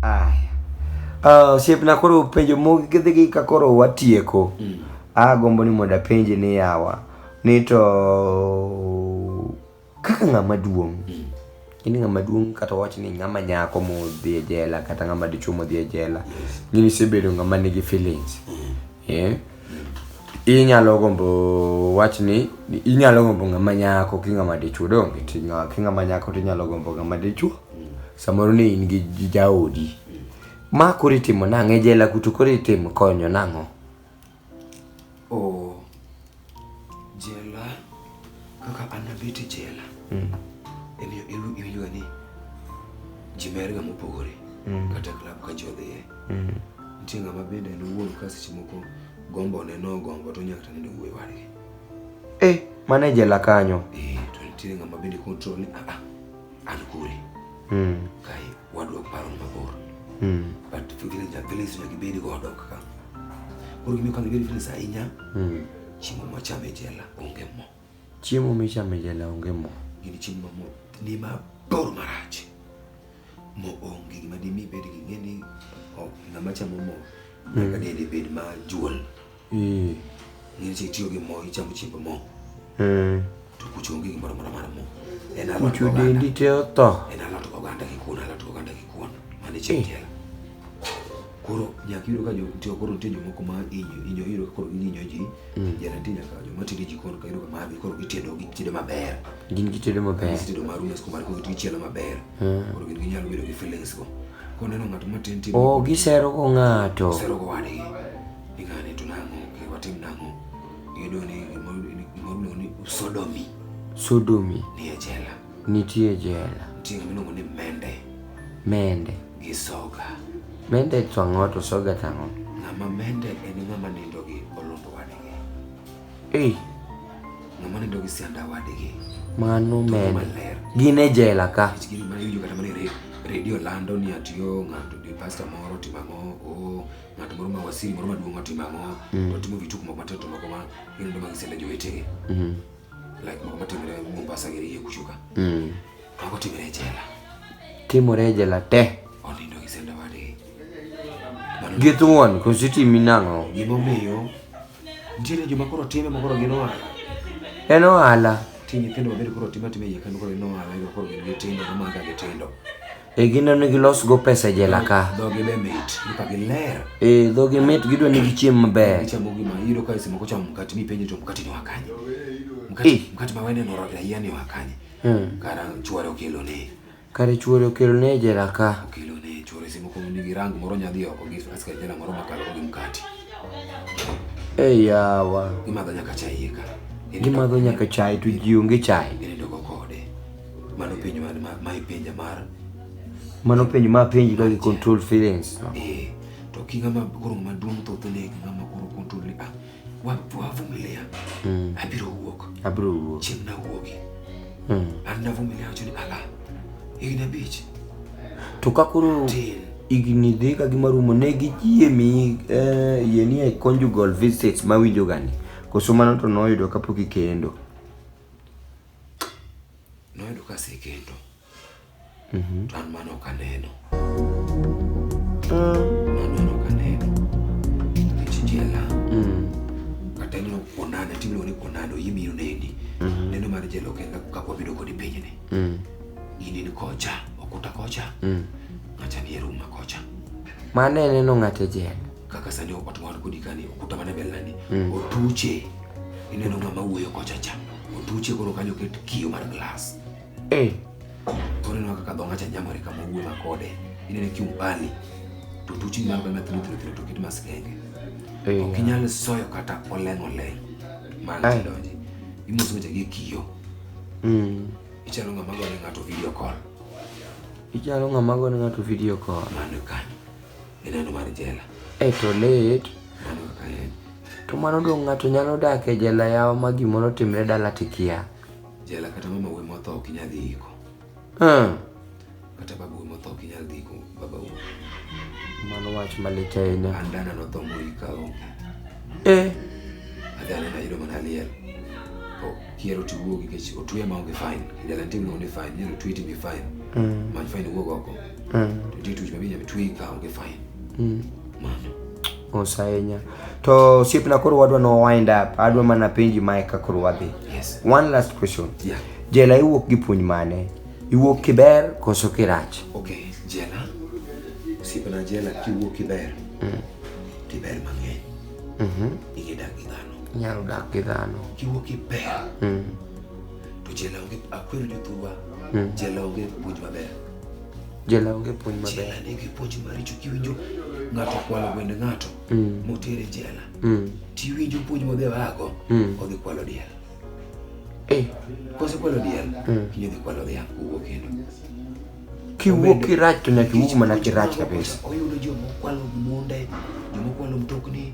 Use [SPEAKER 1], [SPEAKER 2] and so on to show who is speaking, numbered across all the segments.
[SPEAKER 1] Aya. Uh, osiepna koro penjo mogidhigi ka koro watieko mm. agombo ni mondo apenji ni yawa ni to kaka ng'ama duong' mm. in ng'ama duong' kata wach ni ng'ama nyako modhi e jela kata ng'ama dichuo modhi e jela yes. ng'ini isebedo ng'ama nigi feelings mm. yeah. inyalo gombo wach ni inyalo gombo ng'ama nyako ki ng'ama dichwo donge ti ng'a- ki ng'ama nyako to inyalo gombo ng'ama dichwo samoro ni in gi gi jaodi ma koro itimo nang'o e jela kuto koro itimo konyo nang'o o jela Kaka an nabet e jela, mm. emiyo iwinjoga ni ji merga mopogore mm. kata klab ka ji odhiye. Mm. Nitie ng'ama bende en owuon ka seche moko gombo ne no gombo to nyaka tane wuoyi wadgi. Eh, mane jela kanyo. Eh, to nitie ng'ama bende control ni ah, ah an kure. Mm. Kai wadwa paro mabor. Mm. But fikiri ja village nyaka ibedi go odok ka. Koro gimiyo kama ibedi village ahinya. Mm. Chiemo machame jela onge mo. Chiemo michame jela onge mo. Gini chiemo ma mo ni ma bor marach. Mo onge gima dimi bed gi ng'e ni ok ng'ama chamo mo nyaka mm. dende bed ma juol. Ng'e ni tiyo gi mo ichamo chiemb mo. Eh. To kuch onge gimoro amora mar mo. En alot Kucho oganda. dendi te otho. En alot oganda gi kuon, alot oganda gi kuon. Mane chieng' tiela. Koro nyaka iyudo ka jo- nitie- koro nitie jomoko ma inyo inyo iyudo ka koro inyo ji. Jana nitie nyaka joma tedo e jikon ka iyudo ka margi koro gitedo gitedo maber. Gin gitedo maber. Gitedo mar umes kumar koro gichielo maber. Koro gin ginyalo bedo gi feelings go. Koneno ng'ato matin tin. Oh, gisero go ng'ato. Sero go wadgi. Ni ng'ani to nang'o, ke watim nang'o. Iyudo ni gimoro ni sodomi. Sodomi. Nitie jela. Nitie jela. Nitie gimiluongo ni mende. Mende. Gi soga. Mende to ang'o to soga to ang'o? Ng'ama mende en ng'ama nindo gi olundu wadgi. Ei. Ng'ama nindo gi sianda wadgi. Mano mende. Gin e jela ka. Gin e jela ka. Redio lando ni atiyo ng'ato di pasta moro timang'o. Oh. ng'at moro ma wasiri moro maduong' otimo ang'o mm. otimo vituko moko matindo moko ma gin ndo magisele jowetege mm-hmm. like moko matimore Mombasa gi iye kuchoka mm. mago timore e jela timore e jela te onindo gi senda wade gi thuon koso itimi nang'o gimomiyo nitiere joma koro time ma koro gin ohala en ohala ti nyithindo mabedo koro time atima iye kendo koro gin ohala koro gin gitindo gimaka gitindo E gin ne gilos go pesa e jela ka. Dhogi be mit, ka giler. E dhogi mit gidwa ni gichiem maber. Gichamo gima iyudo ka simo kochamo mkate mi penje to mkate ni wakanye. Mkate eh. mkate ma wende noro ya yani wakanye. Hmm. Kara chuore okelo ne. Kara chuore okelo ne e jela ka. Okelo ne chuore simo ko ni girang moro nyadhi oko gi aska jela moro makalo gi mkate. Eh yawa. Imadho nyaka chai ka. Gimadho nyaka chai to ji onge chai. Ginindo go kode. Mano penj ma ma ma ipenja mar Mano penj ma penj ka gi control feelings. no. eh to ki ng'ama koro ng'ama duong' thoth ne ng'ama koro control ni ah wa wavumilia Mm. abiro wuok Abiro wuok. chieng' nawuogi Mm. an navumilia wacho ni ala higni abich To ka koro tin igni dhi ka gima rumo ne gi yie mi eh, yie ni e conjugal visits ma winjo gani. Koso mano to noyudo kapok ikendo. Noyudo ka asekendo. Mhm. To an mano ok aneno. Ah. An mano ok aneno. Nikech jela. Mm. Kata ineno kuonana, timiluongo ni kuonana, oyie biro neni. Mhm. Neno mar jela ok en kaka wabedo kodi pinyni. Mm. In in kocha, okuta kocha, Mm. ng'acha ni e room ma kocha. Mano e neno ng'ato e jela. kaka sani otuwan kodi kani okuta mana bel nandi mm. otuche ineno ng'ama wuoyo kocha cha otuche koro kanyo ket kiyo mar glass eh. koro ineno kaka dho ng'acha nyamore kama wuoyo makode inene kiumbali to otuche nyalo kama thilo thilo thilo to ket maskenge eh. ok inyal soyo kata oleng oleng mana tidonji imoso weche gi kiyo mm. ichalo ng'ama gone ng'ato video call ichalo ng'ama gone ng'ato video call mano kanyo Ineno mar jela. E to lit. Mano kaka en. To mano dong' ng'ato nyalo dak e jela yawa ma gimoro timre dala tikia. Jela kata mama wuoyi motho ok inyal dhi iko. Hmm. Kata baba wuoyi motho ok inyal dhi iko baba wuoyi. Mano wach malit ahinya. An dana notho moika onge. Eh. Adhi anena yudo mana liel. To kier oti wuogi nikech otwe ma onge fine. Jela nitie miluongo ni fine. Inyalo twe to ibi fine. Mm. Many fine wuog oko. mm. ndio tu jibabia bitu ika unge fine mm. mama osayenya to siep na koro wadwa no wind up adwa mana penji mae ka koro wadhi yes one last question yeah jela iwuok gi puonj mane iwuok kiber koso kirach okay jela siep na jela kiwuok kiber mm. kiber mang'eny mm -hmm. igedak gi dhano nyalo dak gi dhano kiwuok kiber mm. to jela onge akwero jothurwa mm. jela onge puonj maber Jela onge puonj maber. Jela nigi puonj maricho kiwinjo ng'ato kwalo gwend ng'ato mm. motere jela mm. tiwinjo puonj modhi wago mm. odhi kwalo diel eh. kose kwalo diel mm. kinyo dhi kwalo dhiang' kowuok kendo kiwuok kirach to nyaka iwuog mana kirach kabisa oyudo jomokwalo munde jomokwalo mtokni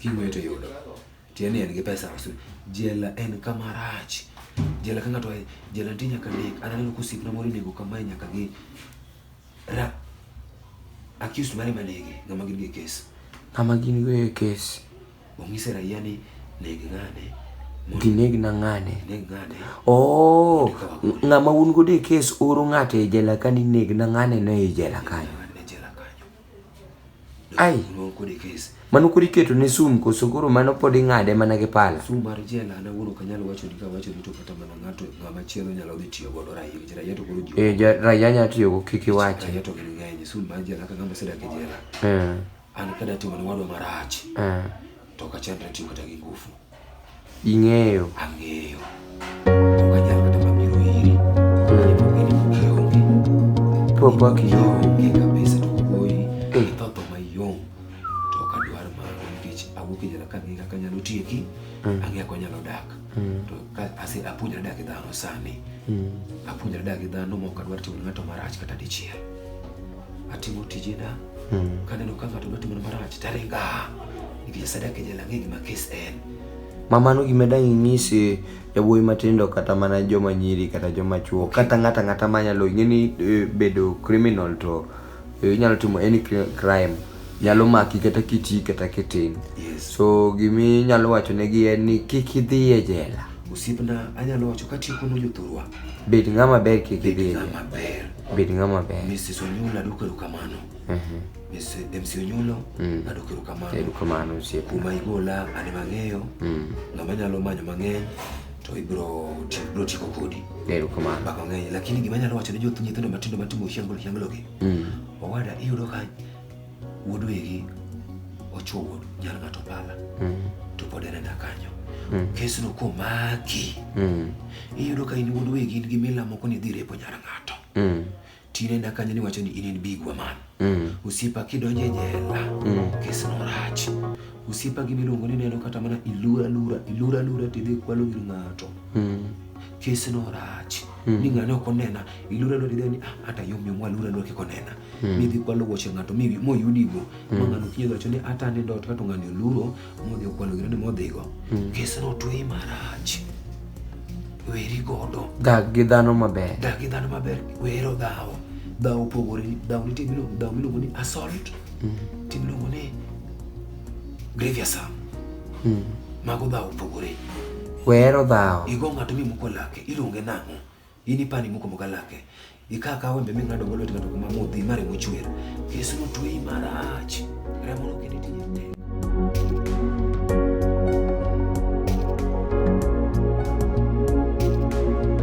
[SPEAKER 1] King'weyo to yudo. Tiende ni en gi pesa asu. Jela en kama rach. Jela ka ng'ato oa e jela nitie nyaka nek. An aneno ka osiepna moro inego kamae nyaka gi ra accused mare ema nege, ng'ama gin go e kes. Ng'ama gin go e kes. Ong'ise raia ni neg ng'ane. mondo Gineg na ng'ane. Ineg ng'ane. Oh, ng'ama un godo e kes oro ng'ato e jela ka ni neg na ng'ane no e jela kanyo. Ai. Mano kod e kes. Mano kod iketo ne sum koso koro mano pod ing'ade mana gi pala. Sum mar jela an awuon ok anyal wacho ni kawacho ni to kata mana ng'ato ng'ama chielo nyalo dhi tiyo godo raia nikech raia to koro ji. Eh ja- raia nya tiyo go kik iwach. Raia to gin ng'eny sum mar jela ka ng'ama osedak e jela. Eh. An ka datimo ne wadwa marach Eh. to ok achand tiyo kata gi ngufu. Ing'eyo. Ang'eyo. Ok anyal kata mana biro iri. Mm. Pok in pok ionge. Pok wak ionge. Ionge kabisa to wuoyi. Eh. Itho tho mayom. To ok adwar mago nikech awuok e jela kang'e kaka anyalo tieki. Mm. Ang'e kaka anyalo dak. Mm. To ka ase apuonjra dak gi dhano sani. Mm. Apuonjra dak gi dhano ma ok adwar timo ne ng'ato marach kata dichiel. atimo tijena mm. kaneno ka ng'ato dwa timona marach taringa nikech asadaka nyala ng'e gima kes en ma mano gima dang' inyisi yawuoyi matindo kata mana joma nyiri kata joma chuo kata ng'ata ng'ata manyalo ing'e ni eh, bedo criminal to eh, inyalo timo any crime nyalo maki kata kiti kata kitin yes. so gimi nyalo wacho negi en ni kik idhi e jela osiepna anyalo wacho katiyo kuno jothurwa Bed ng'ama ber kik Bed idhi. ng'ama ber. Bed ng'ama ber. Mrs. Onyulo adwoko erokamano. Mhm. Miss MC Onyulo Mm. adwoko erokamano. Erokamano osiepna. Kuma igola an ema ang'eyo. Mm. Ng'ama nyalo manyo mang'eny to ibro ti- bro tieko kodi. Erokamano. Bako ng'eny lakini gima anyalo wacho ne joth nyithindo matindo matimo hiangolo hiangologi. Mm. Owada iyudo ka wuod wegi ochuo wuod nyar ng'ato pala to pod en enda kanyo kesno komaki iyudo ka in wuod wegi in gi mila moko ni idhi repo nyar ng'ato tine enda kanyo niwacho ni in in big waman osiepa kidonjo e jela kesno rach osiepa gi miluongo ni neno kata mana ilura lura ilura lura tidhi kwalo gir ng'ato kesno rach ni ng'ane ok onena ilura lura gideni ah, hata yom yom walura lura kiko nena mm. midhi kwalo wuoche ng'ato mi mo yudi go mm. manga no kinyo gacho ni hata ni dot kato ng'ani oluro modhi kwalo gino ni modhi go mm. kesa no twi maraj weri godo dag gi dhano maber dag gi dhano maber wero dhawo dhawo pogore dhawo ni tibilo dhawo miluongo ni assault mm. timiluongo ni grievous harm mm. mago dhawo pogore wero dhawo igo ng'ato mi muko lake iluonge nang'o In ipani moko moga lake. Ika ka wembe ming'ado go lwet ng'ato kuma modhi mare mochwer. Yesu notweyi marach. Remo nokende tije tek.